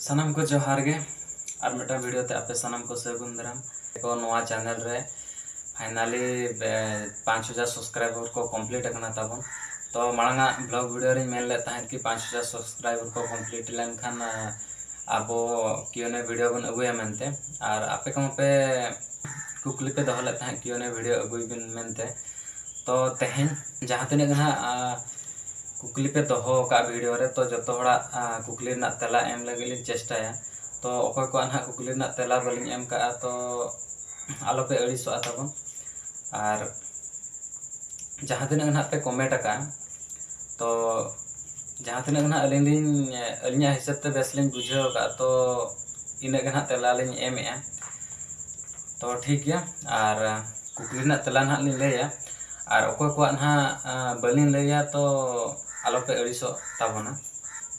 ᱥᱟᱱᱟᱢ ᱠᱚ ᱡᱚᱦᱟᱨ ᱜᱮ ᱟᱨ ᱢᱤᱫᱴᱟᱝ ᱵᱷᱤᱰᱤᱭᱳ ᱛᱮ ᱟᱯᱮ ᱥᱟᱱᱟᱢ ᱠᱚ ᱥᱟᱹᱜᱩᱱ ᱫᱟᱨᱟᱢ ᱠᱚ ᱱᱚᱣᱟ ᱪᱮᱱᱮᱞ ᱨᱮ ᱯᱷᱟᱭᱱᱟᱞᱤ ᱯᱟᱸᱪ ᱦᱟᱡᱟᱨ ᱥᱟᱵᱥᱠᱨᱟᱭᱵᱟᱨ ᱠᱚ ᱠᱚᱢᱯᱞᱤᱴ ᱟᱠᱟᱱᱟ ᱛᱟᱵᱚᱱ ᱛᱚ ᱢᱟᱲᱟᱝ ᱟᱜ ᱵᱞᱚᱜ ᱵᱷᱤᱰᱤᱭᱳ ᱨᱮᱧ ᱢᱮᱱ ᱞᱮᱫ ᱛᱟᱦᱮᱸᱫ ᱠᱤ ᱯᱟᱸᱪ ᱦᱟᱡᱟᱨ ᱥᱟᱵᱥᱠᱨᱟᱭᱵᱟᱨ ᱠᱚ ᱠᱚᱢᱯᱞᱤᱴ ᱞᱮᱱᱠᱷᱟᱱ ᱟᱵᱚ ᱠᱤᱭᱩᱱᱮ ᱵᱷᱤᱰᱤᱭᱳ ᱵᱚᱱ ᱟᱹᱜᱩᱭᱟ ᱢᱮᱱᱛᱮ ᱟᱨ ᱟᱯᱮ ᱠᱚᱦᱚᱸ ᱯᱮ ᱠᱩᱠᱞᱤ ᱯᱮ ᱫᱚᱦᱚ ᱞᱮᱫ ᱛᱟᱦᱮᱸᱫ ᱠᱤᱭᱩᱱᱮ ᱵᱷᱤᱰᱤᱭᱳ ᱟᱹᱜᱩᱭ ᱵᱤᱱ ᱢᱮᱱᱛᱮ ᱛᱚ ᱛᱮᱦᱮᱧ ᱡᱟᱦᱟᱸ ᱛᱤᱱᱟᱹᱜ ᱜᱮ ᱦᱟᱸᱜ ᱠᱩᱠᱞᱤ ᱯᱮ ᱫᱚᱦᱚ ᱟᱠᱟᱫᱼᱟ ᱵᱷᱤᱰᱤᱭᱳ ᱨᱮ ᱛᱚ ᱡᱚᱛᱚ ᱦᱚᱲᱟᱜ ᱠᱩᱠᱞᱤ ᱨᱮᱱᱟᱜ ᱛᱮᱞᱟ ᱮᱢ ᱞᱟᱹᱜᱤᱫ ᱞᱤᱧ ᱪᱮᱥᱴᱟᱭᱟ ᱛᱚ ᱚᱠᱚᱭ ᱠᱚᱣᱟᱜ ᱱᱟᱦᱟᱜ ᱠᱩᱠᱞᱤ ᱨᱮᱱᱟᱜ ᱛᱮᱞᱟ ᱵᱟᱹᱞᱤᱧ ᱮᱢ ᱟᱠᱟᱫᱼᱟ ᱛᱚ ᱟᱞᱚ ᱯᱮ ᱟᱹᱲᱤᱥᱚᱜᱼᱟ ᱛᱟᱵᱚᱱ ᱟᱨ ᱡᱟᱦᱟᱸ ᱛᱤᱱᱟᱹᱜ ᱜᱮ ᱱᱟᱦᱟᱜ ᱯᱮ ᱠᱚᱢᱮᱱᱴ ᱟᱠᱟᱫᱼᱟ ᱛᱚ ᱡᱟᱦᱟᱸ ᱛᱤᱱᱟᱹᱜ ᱜᱮ ᱱᱟᱦᱟᱜ ᱟᱹᱞᱤᱧ ᱞᱤᱧ ᱟᱹᱞᱤᱧᱟᱜ ᱦᱤᱥᱟᱹᱵᱽ ᱛᱮ ᱵᱮᱥ ᱞᱤᱧ ᱵᱩᱡᱷᱟᱹᱣ ᱟᱠᱟᱫᱼᱟ ᱛᱚ ᱤᱱᱟᱹᱜ ᱜᱮ ᱱᱟᱦᱟᱜ ᱛᱮᱞᱟ ᱞᱤᱧ ᱮᱢᱮᱫᱼᱟ ᱛᱚ ᱴᱷᱤᱠ ᱜᱮᱭᱟ ᱟᱨ ᱠᱩᱠᱞᱤ ᱨᱮᱱᱟᱜ ᱛᱮᱞᱟ ᱱᱟᱦᱟᱜ ᱞᱤᱧ ᱞᱟᱹᱭᱟ ᱟᱨ ᱚᱠᱚᱭ ᱠᱚᱣᱟᱜ ᱱᱟᱦᱟᱜ ᱵᱟᱹᱞᱤᱧ ᱞᱟᱹᱭᱟ ᱛᱚ ᱟᱞᱚ ᱯᱮ ᱟᱹᱲᱤᱥᱚᱜ ᱛᱟᱵᱚᱱᱟ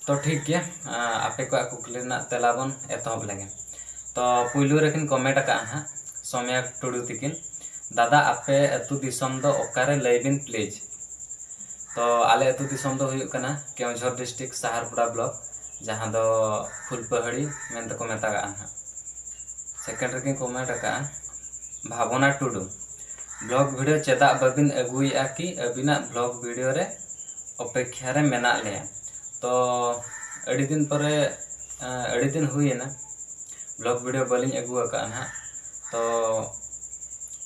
ᱛᱚ ᱴᱷᱤᱠ ᱜᱮᱭᱟ ᱟᱯᱮ ᱠᱚᱣᱟᱜ ᱠᱩᱠᱞᱤ ᱨᱮᱱᱟᱜ ᱛᱮᱞᱟ ᱵᱚᱱ ᱮᱛᱚᱦᱚᱵ ᱞᱮᱜᱮ ᱛᱚ ᱯᱳᱭᱞᱳ ᱨᱮᱠᱤᱱ ᱠᱚᱢᱮᱱᱴ ᱟᱠᱟᱫᱼᱟ ᱱᱟᱦᱟᱜ ᱥᱳᱢᱭᱟ ᱴᱩᱰᱩ ᱛᱤᱠᱤᱱ ᱫᱟᱫᱟ ᱟᱯᱮ ᱟᱹᱛᱩ ᱫᱤᱥᱚᱢ ᱫᱚ ᱚᱠᱟᱨᱮ ᱞᱟᱹᱭ ᱵᱤᱱ ᱯᱞᱤᱡᱽ ᱛᱚ ᱟᱞᱮ ᱟᱹᱛᱩ ᱫᱤᱥᱚᱢ ᱫᱚ ᱦᱩᱭᱩᱜ ᱠᱟᱱᱟ ᱠᱮᱣᱡᱷᱚᱨ ᱰᱤᱥᱴᱤᱠ ᱥᱟᱦᱟᱨᱯᱩᱨᱟ ᱵᱞᱚᱠ ᱡᱟᱦᱟᱸ ᱫᱚ ᱯᱷᱩᱞᱯᱟᱹᱦᱟᱹᱲᱤ ᱢᱮᱱᱛᱮ ᱠᱚ ᱢᱮᱛᱟᱜᱟᱜᱼᱟ ᱱᱟᱦᱟᱜ ᱥᱮᱠᱮᱱᱰ ᱨᱮᱜᱮᱧ ᱠᱚᱢᱮᱱᱴ ᱟᱠᱟᱫᱼᱟ ᱵᱷᱟᱵᱚᱱᱟ ᱴᱩᱰᱩ ᱵᱞᱚᱜᱽ ᱵᱷᱤᱰᱤᱭᱳ ᱪᱮᱫᱟᱜ ᱵᱟᱹᱵᱤᱱ ᱟᱹᱜᱩᱭᱮᱫᱼᱟ ᱠᱤ ᱟᱹᱵᱤᱱᱟᱜ ᱵᱞᱚᱜᱽ ᱵᱷᱤᱰᱤᱭᱳ ᱨᱮ ᱚᱯᱮᱠᱠᱷᱟ ᱨᱮ ᱢᱮᱱᱟᱜ ᱞᱮᱭᱟ ᱛᱚ ᱟᱹᱰᱤ ᱫᱤᱱ ᱯᱚᱨᱮ ᱟᱹᱰᱤ ᱫᱤᱱ ᱦᱩᱭᱮᱱᱟ ᱵᱞᱚᱜᱽ ᱵᱷᱤᱰᱤᱭᱳ ᱵᱟᱹᱞᱤᱧ ᱟᱹᱜᱩ ᱟᱠᱟᱫᱼᱟ ᱱᱟᱦᱟᱜ ᱛᱚ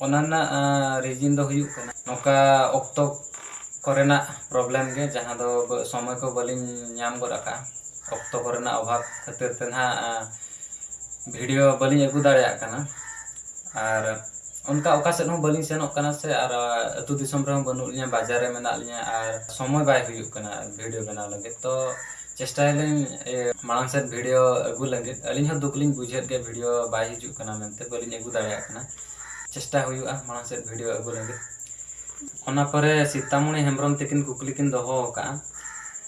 ᱚᱱᱟ ᱨᱮᱱᱟᱜ ᱨᱤᱡᱤᱱ ᱫᱚ ᱦᱩᱭᱩᱜ ᱠᱟᱱᱟ ᱱᱚᱝᱠᱟ ᱚᱠᱛᱚ ᱠᱚᱨᱮᱱᱟᱜ ᱯᱨᱚᱵᱞᱮᱢ ᱜᱮ ᱡᱟᱦᱟᱸ ᱫᱚ ᱥᱚᱢᱚᱭ ᱠᱚ ᱵᱟᱹᱞᱤᱧ ᱧᱟᱢ ᱜᱚᱫ ᱟᱠᱟᱫᱼᱟ ᱚᱠᱛᱚ ᱠᱚᱨᱮᱱᱟᱜ ᱚᱵᱷᱟᱵᱽ ᱠᱷᱟᱹᱛᱤᱨ ᱛᱮ ᱱᱟᱦᱟᱜ ᱵᱷᱤᱰᱭᱳ ᱵᱟᱹᱞᱤᱧ ᱟᱹᱜᱩ ᱫᱟᱲᱮᱭᱟᱜ ᱠᱟᱱᱟ ᱟᱨ ᱚᱱᱠᱟ ᱚᱠᱟ ᱥᱮᱫ ᱦᱚᱸ ᱵᱟᱹᱞᱤᱧ ᱥᱮᱱᱚᱜ ᱠᱟᱱᱟ ᱥᱮ ᱟᱨ ᱟᱹᱛᱩ ᱫᱤᱥᱚᱢ ᱨᱮᱦᱚᱸ ᱵᱟᱹᱱᱩᱜ ᱞᱤᱧᱟᱹ ᱵᱟᱡᱟᱨ ᱨᱮ ᱢᱮᱱᱟᱜ ᱞᱤᱧᱟᱹ ᱟᱨ ᱥᱚᱢᱚᱭ ᱵᱟᱭ ᱦᱩᱭᱩᱜ ᱠᱟᱱᱟ ᱵᱷᱤᱰᱭᱳ ᱵᱮᱱᱟᱣ ᱞᱟᱹᱜᱤᱫ ᱛᱚ ᱪᱮᱥᱴᱟᱭᱟᱞᱤᱧ ᱢᱟᱲᱟᱝ ᱥᱮᱫ ᱵᱷᱤᱰᱭᱳ ᱟᱹᱜᱩ ᱞᱟᱹᱜᱤᱫ ᱟᱹᱞᱤᱧ ᱦᱚᱸ ᱫᱩᱠ ᱞᱤᱧ ᱵᱩᱡᱷᱟᱹᱣᱮᱫ ᱜᱮᱭᱟ ᱵᱷᱤᱰᱭᱳ ᱵᱟᱭ ᱦᱤᱡᱩᱜ ᱠᱟᱱᱟ ᱢᱮᱱᱛᱮ ᱵᱟᱹᱞᱤᱧ ᱟᱹᱜᱩ ᱫᱟᱲᱮᱭᱟᱜ ᱠᱟᱱᱟ ᱪᱮᱥᱴᱟ ᱦᱩᱭᱩᱜᱼᱟ ᱢᱟᱲᱟᱝ ᱥᱮᱫ ᱵᱷᱤᱰᱭᱳ ᱟᱹᱜᱩ ᱞᱟᱹᱜᱤᱫ ᱚᱱᱟ ᱯᱚᱨᱮ ᱥᱤᱛᱟᱢᱚᱱᱤ ᱦᱮᱢᱵᱨᱚᱢ ᱛᱟᱹᱠᱤᱱ ᱠᱩᱠᱞᱤ ᱠᱤᱱ ᱫᱚᱦᱚ ᱟᱠᱟᱫᱼᱟ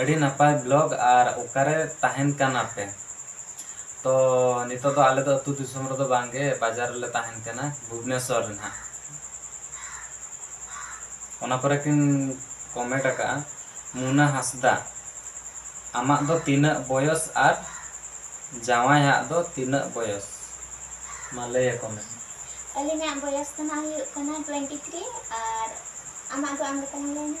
ᱟᱹᱰᱤ ᱱᱟᱯᱟᱭ ᱵᱞᱚᱜ ᱟᱨ ᱚᱠᱟᱨᱮ ᱛᱟᱦᱮᱱ ᱠᱟᱱᱟ ᱯᱮ ᱛᱚ ᱱᱤᱛᱚᱜ ᱫᱚ ᱟᱞᱮ ᱫᱚ ᱟᱹᱛᱩ ᱫᱤᱥᱚᱢ ᱨᱮᱫᱚ ᱵᱟᱝ ᱜᱮ ᱵᱟᱡᱟᱨ ᱨᱮᱞᱮ ᱛᱟᱦᱮᱱ ᱠᱟᱱᱟ ᱵᱷᱩᱵᱽᱱᱮᱥᱚᱨ ᱨᱮ ᱱᱟᱦᱟᱜ ᱚᱱᱟ ᱯᱚᱨᱮ ᱠᱤᱱ ᱠᱚᱢᱮᱱᱴ ᱟᱠᱟᱜᱼᱟ ᱢᱩᱱᱟ ᱦᱟᱸᱥᱫᱟ ᱟᱢᱟᱜ ᱫᱚ ᱛᱤᱱᱟᱹᱜ ᱵᱚᱭᱚᱥ ᱟᱨ ᱡᱟᱶᱟᱭ ᱦᱟᱜ ᱫᱚ ᱛᱤᱱᱟᱹᱜ ᱵᱚᱭᱚᱥ ᱢᱟ ᱞᱟᱹᱭ ᱟᱠᱚ ᱢᱮ ᱟᱹᱞᱤᱧᱟᱜ ᱵᱚᱭᱚᱥ ᱫᱚ ᱱᱟᱦᱟᱜ ᱦᱩᱭᱩᱜ ᱠᱟᱱᱟ ᱴᱩᱭᱮᱱᱴᱤ ᱛᱷᱨᱤ ᱟᱨ ᱟᱢᱟᱜ ᱫᱚ ᱟᱢ ᱜᱮ ᱛᱟᱞᱟᱝ ᱞᱟᱹᱭ ᱢᱮ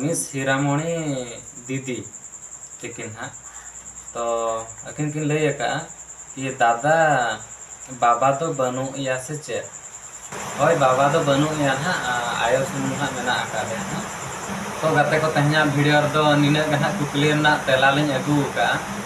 ᱢᱤᱥ ᱦᱤᱨᱟᱢᱚᱬᱤ ᱫᱤᱫᱤ ᱛᱤᱠᱤᱱ ᱦᱟᱸᱜ ᱛᱚ ᱟᱹᱠᱤᱱ ᱠᱤᱱ ᱞᱟᱹᱭ ᱟᱠᱟᱫᱼᱟ ᱠᱤ ᱫᱟᱫᱟ ᱵᱟᱵᱟ ᱫᱚ ᱵᱟᱹᱱᱩᱜ ᱮᱭᱟ ᱥᱮ ᱪᱮᱫ ᱦᱳᱭ ᱵᱟᱵᱟ ᱫᱚ ᱵᱟᱹᱱᱩᱜ ᱮᱭᱟ ᱦᱟᱸᱜ ᱟᱭᱳ ᱥᱩᱢᱩᱝ ᱦᱟᱸᱜ ᱢᱮᱱᱟᱜ ᱟᱠᱟᱫᱮᱭᱟ ᱦᱟᱸᱜ ᱛᱚ ᱜᱟᱛᱮ ᱠᱚ ᱛᱮᱦᱮᱧᱟᱜ ᱵᱷᱤᱰᱤᱭᱳ ᱨᱮᱫᱚ ᱱᱤᱱᱟᱹᱜ ᱜᱮ ᱦᱟᱸᱜ ᱠᱩᱠᱞᱤ ᱨᱮᱱᱟᱜ ᱛᱮᱞᱟ ᱞᱤᱧ ᱟᱹᱜᱩ ᱟᱠᱟᱫᱼᱟ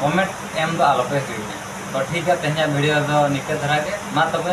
ᱠᱚᱢᱮᱱᱴ ᱮᱢ ᱫᱚ ᱟᱞᱚᱯᱮ ᱦᱤᱲᱤᱧᱟ ᱛᱚ ᱴᱷᱤᱠ ᱜᱮᱭᱟ ᱛᱮᱦᱮᱧᱟᱜ ᱵᱷᱤᱰᱤᱭᱳ ᱫᱚ ᱱᱤᱝᱠᱟᱹ ᱫᱷᱟᱨᱟ ᱜᱮ ᱢᱟ ᱛᱚᱵᱮ